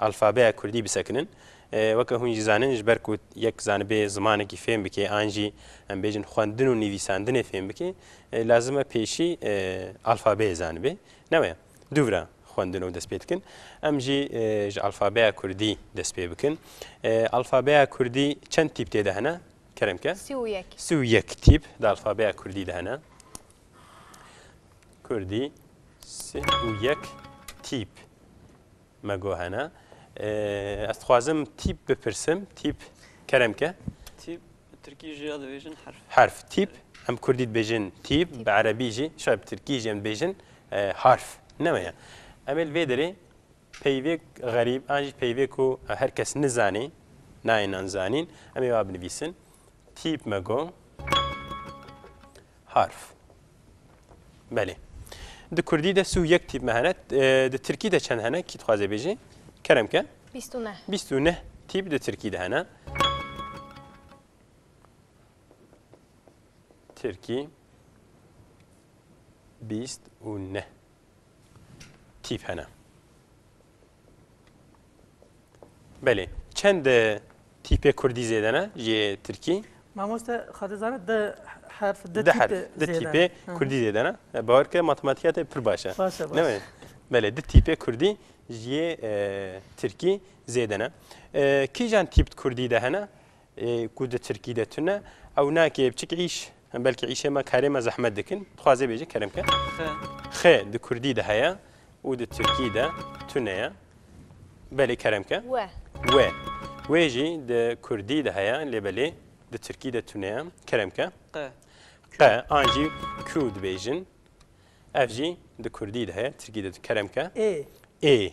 alfabeya kurdî bisekinin. Weke hûn jî zanin ji ber ku yek zanibê zimanekî fêm bike an jî em bêjin xwendin û nivîsandinê fêm bike lazim e pêşî alfabeyê zanibe. Ne waya? Du vira xwendin û dest pê dikin. Em jî ji alfabeya kurdî dest pê bikin. Alfabeya kurdî çend tîp tê de hene? Kerem ke? Sî û yek. Sî û yek tîp di alfabeya kurdî de hene. Kurdî sî û yek tîp. Me got hene. Ez dixwazim tîp bipirsim. Tîp kerem ke. Tîp bi tirkî jî ya dibêjin herf. Herf. Tîp em kurdî dibêjin tîp, bi erebî jî, şayad bi tirkî jî em dibêjin harf. Ne me ye. Em ê li vê derê peyvêk xerîb an jî peyvêk ku her kes nizanê, nayê nan zanîn, em ê wa binivîsin. Tîp me got harf. Belê. Di kurdî de sû yek tîp me hene. Di tirkî de çend hene? Kî dixwaze bêjê? Kerem ke. Bîst û neh. Bîst û neh tîp di tirkî de hene. Tirkî bîst û neh. Tîp hene. Belê. Çend tîpê Kurdî zêde ne jê Tirkî? Mamoste xadi zana di herf di tîpê herf di tîpê Kurdî zêde ne. Bawer ke matematîka te pir baş e. Baş e. Newê. Belê di tîpê Kurdî jê Tirkî zêde ne. Kîjan tîp Kurdî de hene? Ku di Tirkî de tune, ew nake biçik îş, em belkî îşê me, karê me zehmet dikin. Dixwaze bêje kerem ke. Xe. Xe di Kurdî de heye û di Tirkî de tune ye. Belê kerem ke. We. We. Wê jî di Kurdî de heye lê belê di Tirkî de tune ye. Kerem ke. Qe. Qe an jî ku dibêjin. Ev jî di Kurdî de heye, Tirkî de. Kerem ke. Ê. Ê.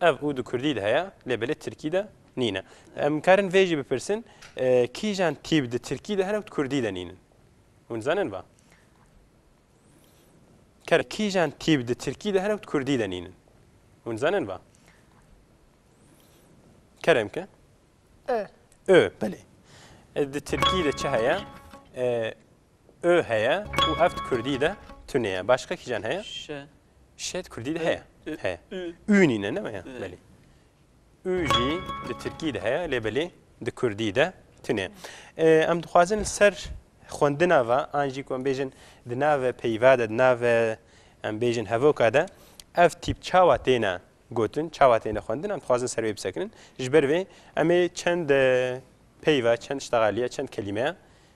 Ev û di kurdî de heye lê belê tirkî de nîne. Em karin vê jî bipirsin kîjan tîp di tirkî de hene û di kurdî de nînin. Hûn dizanin va? Karin kîjan tîp di tirkî de hene û di kurdî de nînin. Hûn dizanin va? Kerem ke? Ö. Ö, belê. Di tirkî de çi heye? Ö heye û ev di kurdî de tunê ye. Başqa kîjan heye? Ş. Şêt kurdî de heye. Heye. Ü nîne ne ya. Belê. Ü jî di tirkî de heye lê belê di kurdî de tune. Em dixwazin li ser xwendina ve an jî ku em bêjin di nave peyva de di nave em bêjin hevoka de ev tîp çawa têne gotin çawa têne xwendin em dixwazin ser wê bisekinin ji ber vê em ê çend peyva çend ştexaliye çend kelîmeya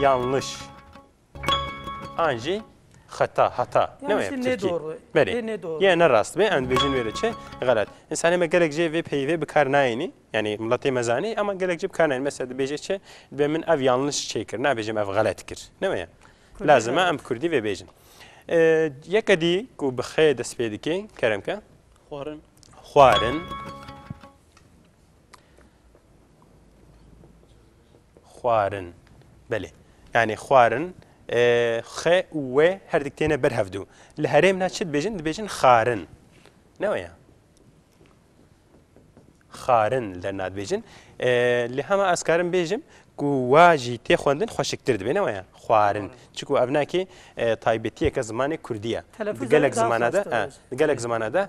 Yanlış. An jî xeta, hata. Ne wê Yanlış Tirkî. nedor. Berê. Dê nedor. Yê ne rast bê, em dibêjin wê re çi? Xelet. Însanê me gelek jê vê peyî vê bikar nayênî. Yanî miletê me zanî ema gelek jî bikar nayênî. Mesela dibêje çi? Dibê min ev yanlış çê kir. Nabêjim ev xelet kir. Ne wê ye? Kurdî Lazim e xelet. em bi Kurdî vê bêjin. E, Yeke dî ku bi xê dest pê dike, kerem ke. Xwarin. Xwarin. xwarin. Belê yanî xwarin xe û wê her dik têne ber hevdû. Li herêm na çi dibêjin dibêjin xarin. Ne weye. Xarin li derna dibêjin. Li hema ez karim bêjim ku wa jî tê xwendin xweşiktir dibê ne weye xwarin. Çiku ev nakê taybetiyeke zimanê Kurdiye. Gelek zimana de gelek zimana de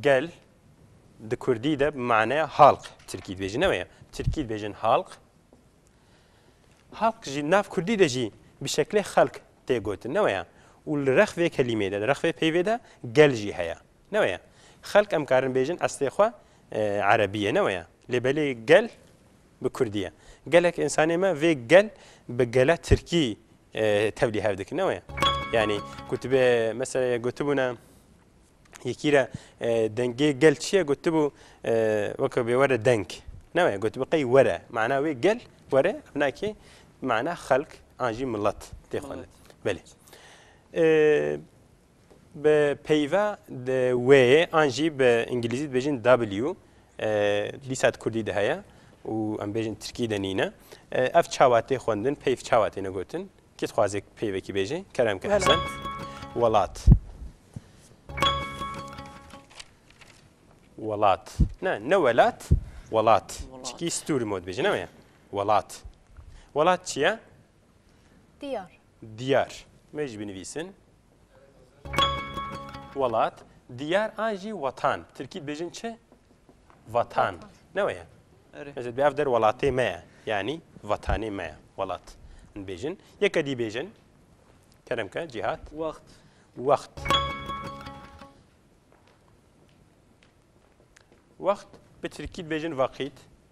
Gel di kurdî de bi maneya halq tirkî dibêjin ne weye. Tirkî dibêjin halq. Halq jî nav kurdî de jî bi şeklê xelk tê gotin ne weye. Û li rex vê kelîmê de, li rex vê peyvê de gel jî heye. Ne weye. Xelk em karin bêjin eslê xwe erebî ye ne weye. Lê belê gel bi kurdî ye. Gelek însanê me vê gel bi gele tirkî Tevlî hev dikin ne wê yanî ku tu bê mesela ye gotibûne yekî re dengê gel çi ye gotibû weke bê were deng ne wê gotibû qey were mana wê gel were binakê mana xelk an jî milet tê xwe belê Bi peyva di wêyê an jî bi îngilîzî dibêjin W dîsa di kurdî de heye û em bêjin tirkî de nîne. Ev çawa tê xwendin, peyv çawa têne gotin? Kê dixwaze peyvekî bêje? Kerem ke Hesen. Welat. Welat. Ne, ne welat, welat. Çikî stûr mod bêje, ne weye? Welat. Welat çi ye? Diyar. Diyar. Me jî binivîsin. Welat. Diyar an jî wetan. Bi tirkî dibêjin çi? Vatan. Ne weye? Ez ê ev der welatê me ye. Yanî vatanê me ye. Welat. Dibêjin. Yeke dî bêjin. Kerem ke cîhat. Wext. Wext. Wext bi tirkî dibêjin vaqît.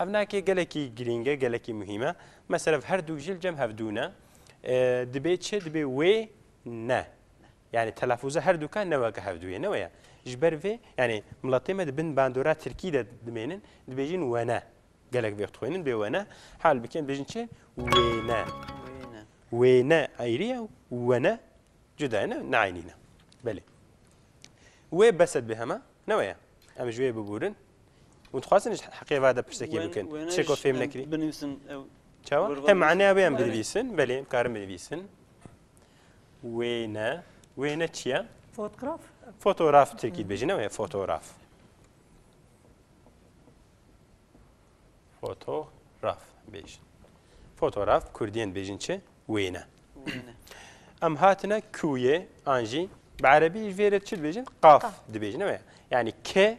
Ev nake gelekî girîng e, gelekî muhîm e. Mesela her du ji li cem hevdû ne. Dibê çi? Dibê wê ne. Yani telafûza her du ka ne weke hevdû ye, ne weye. Ji ber vê yani miletê me di bin bandora tirkî de dimênin, dibêjin we ne. Gelek vê dixwênin bê we ne. Hal bikin dibêjin çi? Wê ne. Wê ne ayrî ye we ne cuda ye ne neaynî ne. Belê. Wê beset bê hema ne weye. Em ji wê bibûrin. û dixwazin ji heqê ve de pirstekî bikin çê ku fêm nekirî binivîsin çawa hem maneya wê em binivîsin belê em karin binivîsin wê ne wê ne çiye fotograf fotograf tirkî dibêjin ne wê fotograf fotograf bêjin fotograf kurdiyên bêjin çi wê ne em hatine kûyê an jî bi erebî ji vêrê çi dibêjin qaf dibêjin ne wê yani ke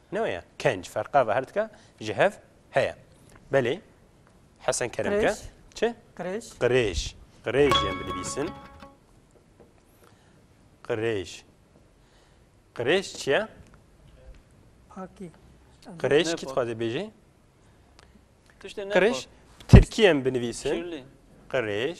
Ne weye. Kenc ferqa ve her dike ji hev heye. Belê Hesen Keremke çi? Qirêj. Qirêj. Qirêj yên binivîsin. Qirêj. Qirêj çi ye? Pakî. Qirêj kî dixwaze bêjî? Qirêj Tirkî yên binivîsin. Qirêj.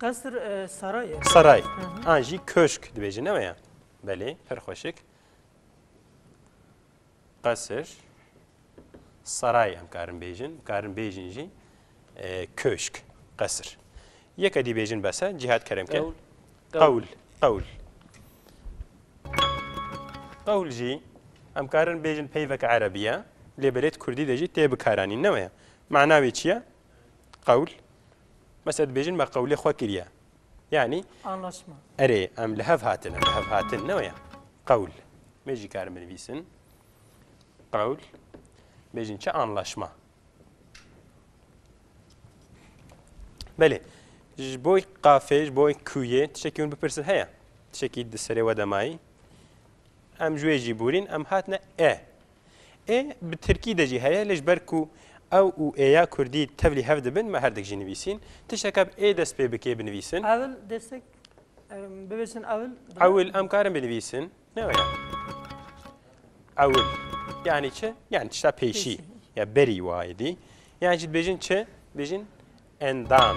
Qesr saray e. Saray. An jî köşk dibêjin ne ya? Belê, her xweşik. Qesr saray em karin bêjin, karin bêjin jî e, köşk, qesr. Yeke dî bêjin bese, cihat kerem ke. Qewl, qewl. Qewl jî em karin bêjin peyveke erebiye, lê belêt kurdî de jî tê bikaranîn ne ya? Mana wê çi ye? Qewl, mesela dibêjin me qewlê xwe kiriye. Yanî Anlaşma. erê em li hev hatin, em li hev hatin ne waya. Qewl. Mê jî karin binivîsin. Qewl. Bêjin çi anlaşma. Belê. Ji bo qafê, ji bo kuyê tişekî hûn bipirsin heye. Tişekî di serê we de mayî. Em ji wê jî bûrîn, em hatine e. Ê bi tirkî de jî heye lê ji ber ku ew û ê ya kurdî tevlî hev dibin me herdik jî nivîsîn. Tişteke bi ê dest pê bike binivîsin. Ewil destek bivêjin ewil. Ewil em karin binivîsin. Ne were. Ewil. Yani çi? Yani tişta pêşî. Ya berî wayê dî. Yani jî dibêjin çi? Dibêjin endam.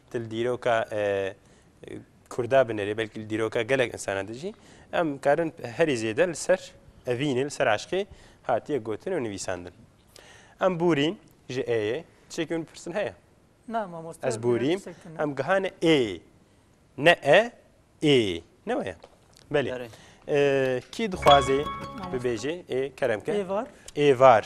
Til dîroka Kurda binêrê, belkî li dîroka gelek însanan de jî em karin herî zêde li ser evînê, li ser eşqê hatiye gotin û nivîsandin. Em bûrîn ji ê yê, tişekî min pirsin heye? Na mamoste. Ez bûrîm, em gihane ê, ne e, ê. Ne waya? Belê. Kî dixwazê bibêje ê kerem ke? Êvar. Êvar.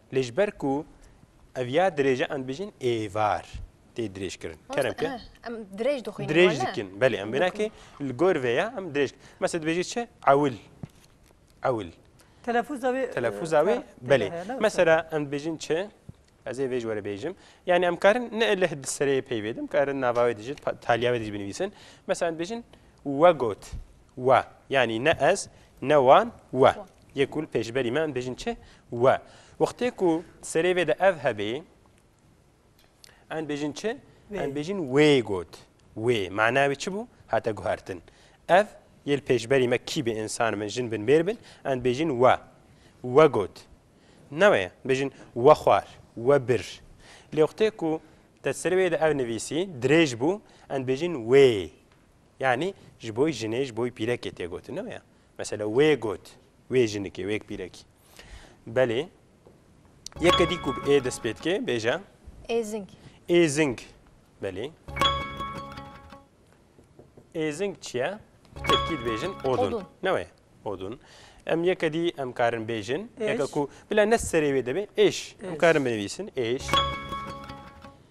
Lê ji ber ku ev ya dirêje em dibêjin êvar tê dirêjkirin. Kerem ke? Em dirêj dixwînin. Dirêj dikin. Belê em bênakê li gor vê ya em dirêj. Mesela dibêjî çi? Ewil. Ewil. Telefûza wê telefûza wê belê. Mesela em dibêjin çi? Ez ê vêj were bêjim. Yani em karin ne leh di serê pey bêdim, karin nava wê dijit, taliya wê dijî binivîsin. Mesela em dibêjin we got. We. Yani ne ez, ne wan, we. Yê kul pêşberî me em bêjin çi? We. Wextê ku serê vê de ev hebê em bêjin çi? Em bêjin wê got. Wê. Mana wê çi bû? Hate guhertin. Ev yê li pêşberî me kî bê însan bin, jin bin, mêr bin em bêjin we. We got. Ne wê ye. Bêjin we xwar, we bir. Lê wextê ku te serê wê de ev nivîsî, dirêj bû, em bêjin wê. Yanî ji bo jinê, ji bo pîrekê tê gotin. Ne wê ye. Mesela wê got, wê jinikê, wê pîrekî. Belê, yeke dî ku bi ê dest pê dike, bêje. Êzing. Êzing. Belê. Êzing çi ye? Bi tirkî dibêjin odun. Ne wê? Odun. Em yeke dî em karin bêjin. Yeke ku bila ne serê wê dibê, êş. Em karin binivîsin, êş.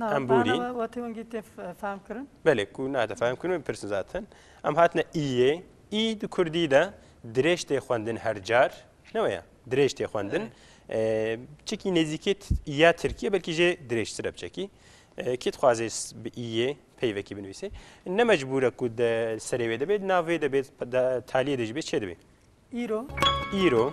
Em borîn. Bana wetî wengî tê fehm kirin? Belê ku nate fehm kirin wê pirsin zaten. Em hatine îyê. Î di kurdî de dirêj tê xwendin her car. Ne weye? Dirêj tê xwendin. Çekî nêzîkê îya tirkî ye belkî jê dirêjtir e biçekî. Kê dixwazê bi îyê peyvekî binivîsê. Ne mecbûr e ku di serê wê de bê, di nav wê de bê, taliyê de jî bê, çê de bê. Îro. Îro.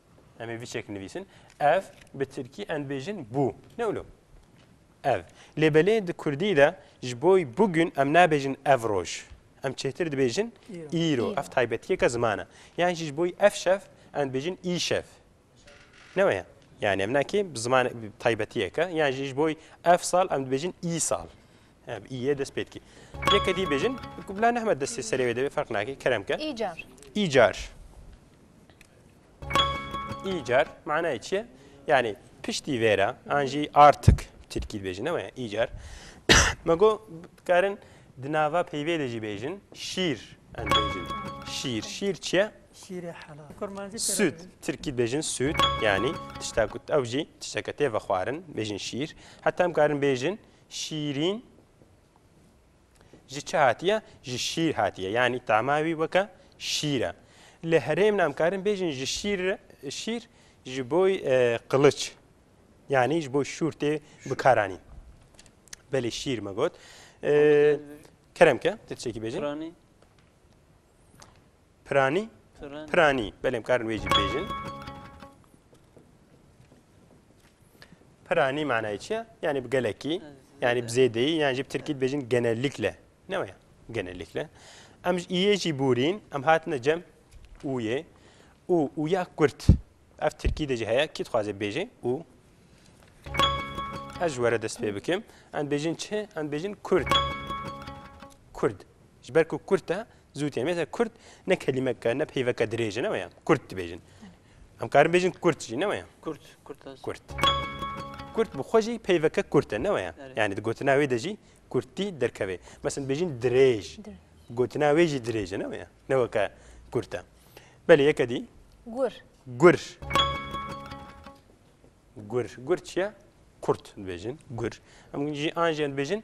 Em ê vî çek nivîsin. Ev bi tirkî em dibêjin bû. Ne wilo. Ev. Lê belê di kurdî de ji bo bûgün em nabêjin ev roj. Em çêtir dibêjin îro. Ev taybetiyeke ziman e. Yan jî ji bo ev şev em dibêjin îşev. Ne weye. Yani em nakê bi ziman taybetiyeke yan jî ji bo ev sal em dibêjin î sal. Ev îye dest pê dikî. Yeke dî bêjin bila nehme destê serê wê de ferq nakê kerem ke. Îcar. Îcar. Îcar manayê çi ye? Yanî piştî vê re an jî artik tirkî dibêjin ne waya îcar. Me got dikarin di nava peyvê de jî bêjin şîr em bêjin. Şîr, şîr çi ye? Şîrê helal. Kurmancî Süt, tirkî dibêjin süt yanî tişta ku ew jî tişteke tê vexwarin bêjin şîr. Heta em karin bêjin şîrîn ji çi hatiye? Ji şîr hatiye. Yanî tama wî weke şîr e. Li herêmin em karin bêjin ji şîr şîr ji bo qiliç yanî ji bo şûr tê bikaranîn. Belê şîr me got. Kerem ke tirçekî bêjin. Piranî? Piranî. Belê em karin wê jî bêjin. Piranî manayê çi ye? Yanî bi gelekî, yanî bi zêdeyî, yan jî bi tirkî dibêjin genellikle. Ne waya? Genellikle. Em ji iyê jî bûrîn, em hatine cem ûyê. Û, ûya kurt. Ev tirkî de jî heye, kî dixwaze bêje û? Ez ji were dest pê bikim. Em dibêjin çi? Em dibêjin kurd. Kurd. Ji ber ku Kurd e, zû tê. Mesela Kurd ne kelîmeke, ne peyveke dirêj e, ne waya. Kurd dibêjin. Em karin bêjin Kurd jî, ne waya. Kurd, Kurd ez. Kurd. Kurd bi xwe jî peyveke Kurd e, ne waya. Yani di gotina wê de jî Kurdtî derkevê. Mesela bêjin dirêj. Gotina wê jî dirêj e, ne waya. Ne weke Kurd e. Belê yeke dî. Gur. Gur. Gur. Gur çi ye? Kurd dibêjin. Gur. Em jî an jî em dibêjin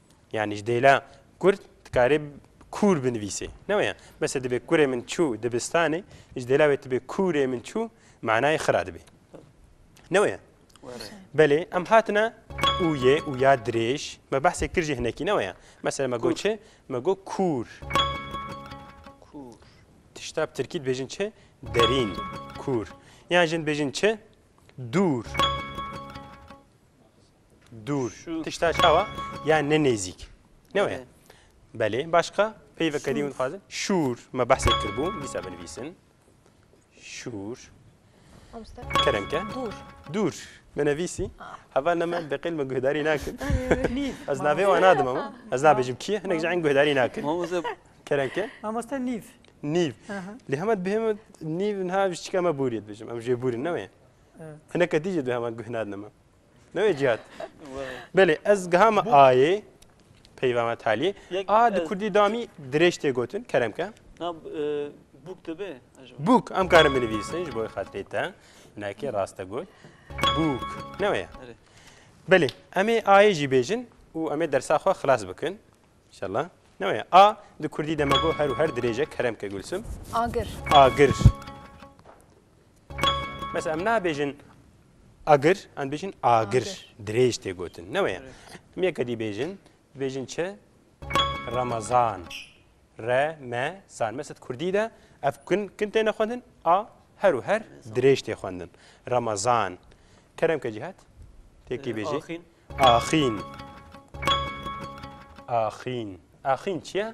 Yanî ji dêla kurd dikarê kûr binivîsê. Ne waya. Mesela dibe kurê min çû dibistanê, ji dêla wê tibe kûrê min çû manayê xira dibe. Ne waya. Belê em hatina û yê û ya dirêj me behsê kir jî hinekî ne waya. Mesela me got çi? Me got kûr. Kûr. Tişta bi tirkî dibêjin çi? Derîn. Kûr. Yan jin dibêjin çi? Dûr. Dûr. Tişta çawa? Ya ne nêzîk. Ne waya? Belê. Başka? Peyveke dî hûn dixwazin. Şûr. Me behsê kiribû. Dîsa binivîsin. Şûr. Kerem ke. Dûr. Dûr. Me nevîsî. Heval ne me beqêl me guhdarî nakin. Ez navê wan nadim ama. Ez nabêjim kî ye hinek ji en guhdarî nakin. Kerem ke. Mamoste nîv. Nîv. Lê hema dibêheme nîv niha ji çika me bûrî dibêjim. Em jê bûrin ne wê. Hineke dî jê dibêhema guh nadin me. Ne wê cihat. Belê ez giha me ayê peyva me taliyê. A di kurdî damî dirêj tê gotin keremke. Na bûk dibe. Bûk em karin binivîsin ji bo xatirê te. Nekê raste got. Bûk. Ne weye. Belê em ê ayê jî bêjin û em ê dersa xwe xilas bikin. İnşallah. Ne weye. A di kurdî demego her û her dirêje keremke gulsim. Agir. Agir. Mesela em nabêjin agir, em bêjin agir. Dirêj tê gotin. Ne weye. Em yek edî bêjin, bêjin çi? Ramazan. Re, me, zan. Mesela Kurdî de ev kin, kin têne xwendin, a her û her dirêj tê xwendin. Ramazan. Kerem ke cihat? Têkî bêjî. Axîn. Axîn. Axîn. Axîn çi ye?